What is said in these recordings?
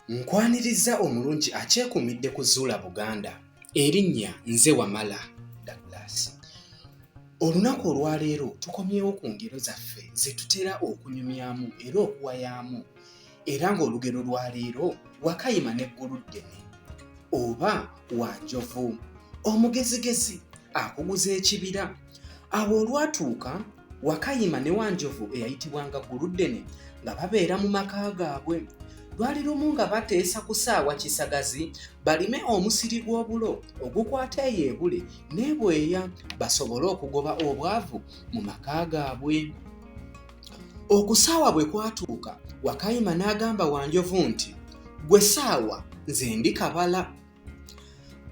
Nkwanirizza omulungi akyekuumidde ku Zuula Buganda. Erinnya nze Wamala Douglas. Olunaku olwaleero tukomyewo ku ngero zaffe ze tutera okunyumyamu era okuwayaamu era ng'olugero lwa leero Wakayima ne Gguluddene oba Wanjovu. Omugezigezi akuguza ekibira. awo olwatuuka wakayima ne wanjovu eyayitibwanga guluddene nga babeera mu maka gaabwe lwali lumu nga bateesa kusaawa kisagazi balime omusiri gw'obulo ogukwata eyo ebule nebweya basobole okugoba obwavu mu maka gaabwe okusaawa bwe kwatuuka wakayima n'agamba wanjovu nti gwe saawa nze ndi kabala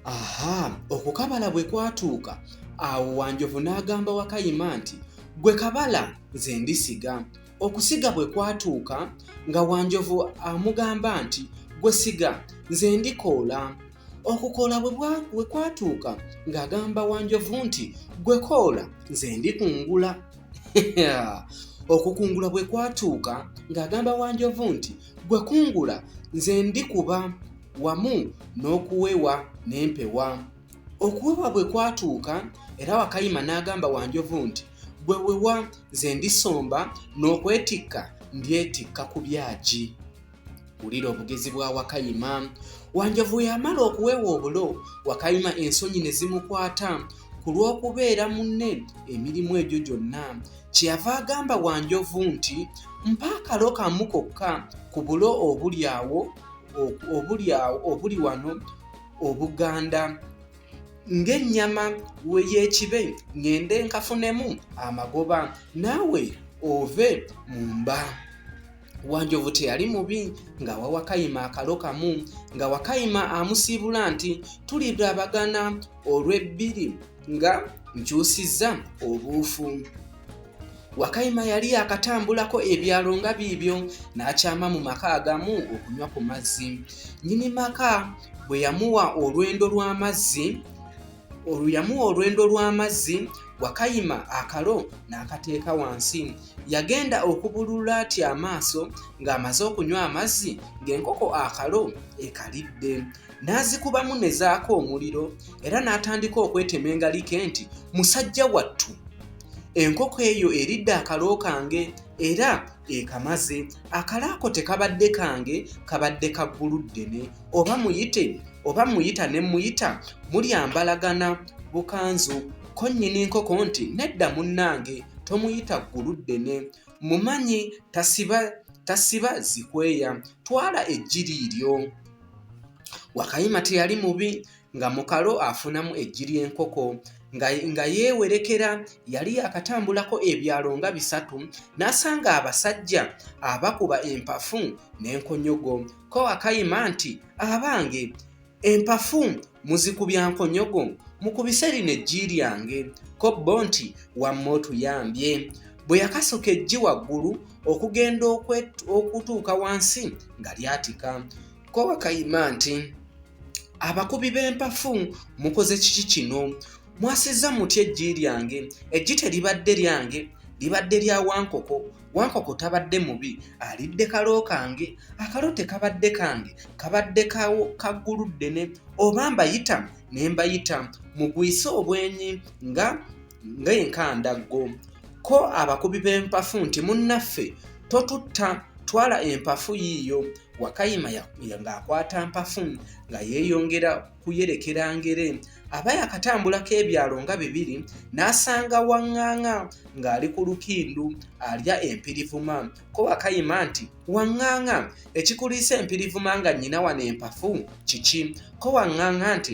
aha okukabala bwe kwatuuka awo wanjovu n'agamba wakayima nti gwe kabala nze ndisiga okusiga bwe kwatuuka nga wanjovu amugamba nti gwe siga nze ndikoola okukola bwe kwatuuka ng'agamba wanjovu nti gwe koola nze ndikungula okukungula bwe kwatuuka ng'agamba wanjovu nti Gwe kungula nze ndikuba wamu n'okuwewa n'empewa. Okuwewa bwe kwatuuka era Wakayima n'agamba Wanjovu nti gwe wewa nze ndisomba n'okwetikka ndyetikka ku byagi. Wulira obugezi bwa Wakayima. Wanjovu yamala okuwewa obulo Wakayima ensonyi ne zimukwata ku lw'okubeera munne emirimu egyo gyonna kyeyava agamba Wanjovu nti mpa akalo kamu kokka ku bulo obuli awo obuli awo obuli wano Obuganda ng'ennyama y'ekibe ng'ende nkafunemu amagoba naawe ove mu mba. wanjovu teyali mubi nga wawakayima akalo kamu nga wakayima amusiibula nti tulirabagana olw'ebbiri nga nkyusizza obuufu wakayima yali yakatambulako ebyalo nga biibyo n'akyama mu maka agamu okunywa ku mazzi nyini maka bwe yamuwa olwendo lw'amazzi oluyamu olwendo lw'amazzi wakayima akalo n'akateeka wansi yagenda okubulula ati amaaso ng'amaze okunywa amazzi ng'enkoko akalo ekalidde n'azikubamu ne zaako omuliro era n'atandika okwetema engalike nti musajja wattu enkoko eyo eridde akalo kange era ekamaze akalaako tekabadde kange kabadde ka ggulu ddene oba muyite oba muyita ne muyita mulyambalagana bukanzu ko nnyini nkoko nti nedda munnange tomuyita ggulu ddene mumanyi tasiba tasiba zikweya twala ejjiri lyo wakayima teyali mubi nga mukalo afunamu eggi ly'enkoko nga, nga yeewerekera yali yakatambulako ebyalo nga bisatu n'asanga abasajja abakuba empafu n'enkonyogo ko akayima nti abange empafu muzikubya nkonyogo mukubise lino eggi lyange ko bo nti wamma otuyambye bwe yakasoka eggi waggulu okugenda okutuuka wansi nga lyatika Kowa Kayima nti abakubi b'empafu mukoze kiki kino mwasizza mutya eggi lyange eggi teribadde lyange libadde lya wankoko wankoko tabadde mubi alidde kalo kange akalo tekabadde kange kabadde kaggulu ddene oba mbayita ne mbayita mugwise obwenyi nga ng'enkandaggo ko abakubi b'empafu nti munnaffe totutta twala empafu yiiyo wakayima ng'akwata mpafu nga yeeyongera kuyerekera ngere aba yakatambulako ebyalo nga bibiri n'asanga waŋŋaŋa ng'ali ku lukindu alya empirivuma ko wakayima nti waŋŋaŋa ekikuliisa empirivuma nga nnyina wano empafu kiki ko waŋŋaŋa nti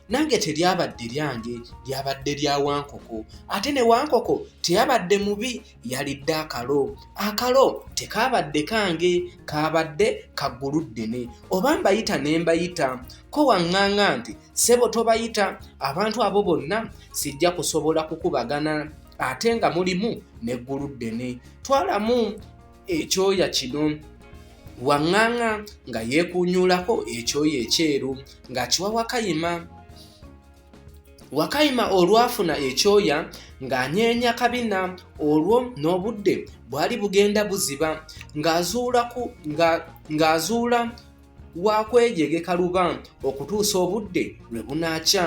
nange teryabadde lyange lyabadde lya wankoko ate ne wankoko teyabadde mubi yalidde akalo akalo tekaabadde kange kaabadde kaggulu ddene oba mbayita ne mbayita ko waŋŋaŋa nti ssebo tobayita abantu abo bonna sijja kusobola kukubagana ate nga mulimu n'eggulu ddene twalamu ekyoya kino waŋŋaŋa nga yeekuunyuulako ekyoya ekyeru ng'akiwa wakayima wakayima olwafuna ekyoya ng'anyeenya kabina olwo n'obudde bwali bugenda buziba ng'azuula wa kweyegeka luba okutuusa obudde lwe bunaakya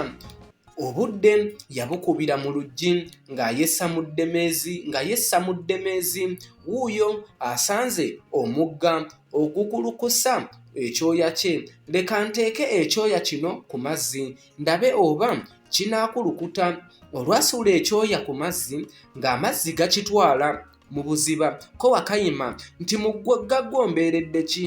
obudde yabukubira mu luggi ng'ayessa mu ddemeezi nga yessa mu ddemeezi wuuyo asanze omugga ogukulukusa ekyoya kye leka nteeke ekyoya kino ku mazzi ndabe oba kinaakulukuta olwasuula ekyoya ku mazzi ng'amazzi gakitwala mu buziba ko wakayima nti mu ggaggo mbeeredde ki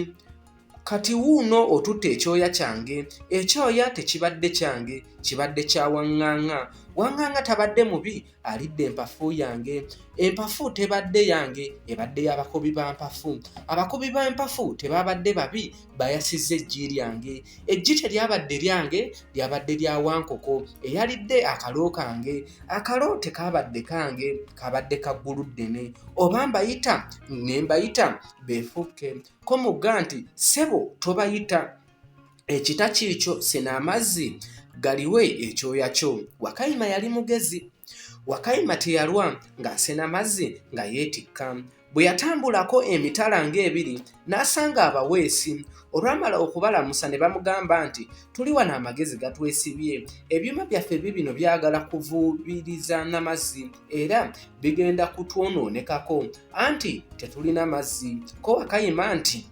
Kati wuuno otutte ekyoya kyange, ekyoya tekibadde kyange, kibadde kya waŋŋaŋŋa. Waŋŋaŋŋa tabadde mubi, alidde empafu yange. Empafu tebadde yange, ebadde y'abakubi ba mpafu. Abakubi ba mpafu tebaabadde babi, bayasizza eggi lyange. Eggi teryabadde lyange, lyabadde lya Wankoko eyalidde akalo kange. Akalo tekaabadde kange, kaabadde ka Gguluddene. Oba mbayita ne mbayita beefuukke. ko mugga nti ssebo tobayita ekita kiikyo sena amazzi galiwe ekyoya kyo wakayima yali mugezi wakayima teyalwa ng'asena mazzi nga yeetikka bwe yatambulako emitala ng'ebiri n'asanga abaweesi olwamala okubalamusa ne bamugamba nti tuli wano amagezi gatwesibye ebyuma byaffe bibino byagala kuvuubiriza na mazzi era bigenda kutwonoonekako anti tetulina mazzi kowa kayima nti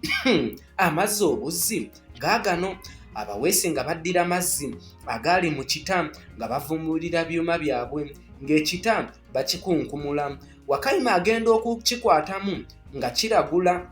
amazzi obuzzi gaagano abaweesi nga baddira mazzi agaali mu kita nga bavumulira byuma byabwe ng'ekita bakikunkumula wakayima agenda okukikwatamu nga kiragula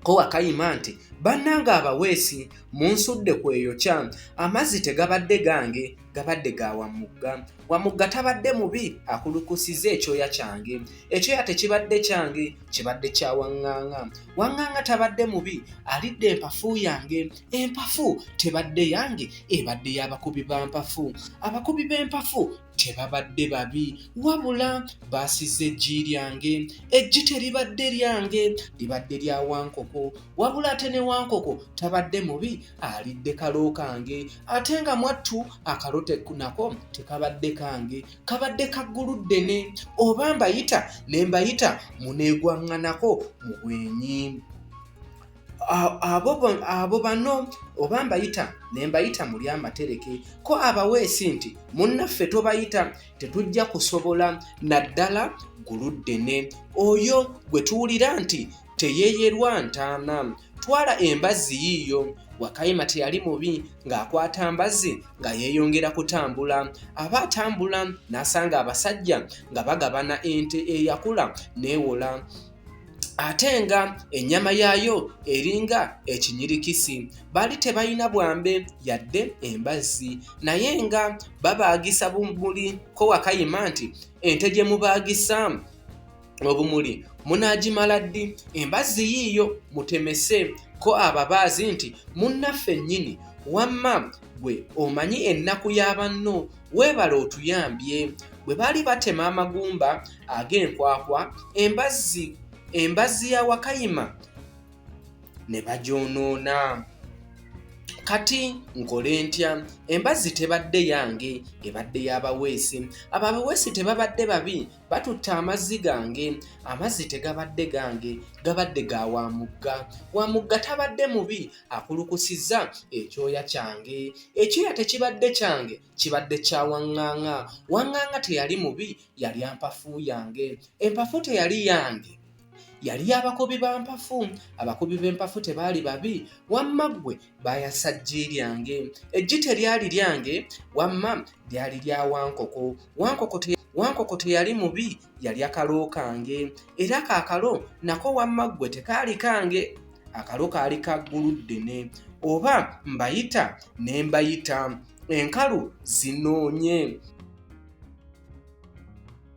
ko wakayima nti bannanga abaweesi munsudde kweyokya amazzi tegabadde gange gabadde ga wamugga wamugga tabadde mubi akulukusiza ekyoya kyange ekyoya tekibadde kyange kibadde kya waŋŋaŋa waŋŋaŋa tabadde mubi alidde empafu yange empafu tebadde yange ebadde y'abakubi ba mpafu abakubi b'empafu tebabadde babi wabula baasiza eggi lyange eggi teribadde lyange libadde lya wankoko wabula ate ne wankoko tabadde mubi alidde kalo kange ate nga mwattu akalo nako tekabadde kange kabadde kaggulu ddene oba mbayita ne mbayita muneegwaŋŋanako mu bwenyi abo bano oba mbayita ne mbayita muli amatereke ko abaweesi nti munnaffe tobayita tetujja kusobola naddala guluddene oyo gwe tuwulira nti teyeyerwa ntaana twala embazzi yiiyo wakayima teyali mubi ng'akwata mbazzi nga yeeyongera kutambula aba atambula n'asanga abasajja nga bagabana ente eyakula neewola ate nga ennyama yaayo eringa ekinyirikisi baali tebalina bwambe yadde embazzi naye nga babaagisa bumuli ko wakayima nti ente gye mubaagisa obumuli munaagimala ddi embazzi yiiyo mutemese ko ababaazi nti munnaffe nnyini wamma gwe omanyi ennaku ya banno weebale otuyambye bwe baali batema amagumba ag'enkwakwa embazzi embazzi ya wakayima ne bagyonoona kati nkole ntya embazzi tebadde yange ebadde yabaweesi ababaweesi tebabadde babi batutte amazzi gange amazzi tegabadde gange gabadde ga wa mugga wa mugga tabadde mubi akulukusizza ekyoya kyange ekyoya tekibadde kyange kibadde kya waŋŋaŋa waŋŋaŋa teyali mubi yali ampafu yange empafu teyali yange yali abakubi ba mpafu abakubi b'empafu tebaali babi wamma ggwe baayasa ggi lyange eggi teryali lyange wamma lyali lya wankoko wankoko te wankoko teyali mubi yali akalo kange era kaakalo nako wamma ggwe tekaali kange akalo kaali ka ggulu ddene oba mbayita ne mbayita enkalu zinoonye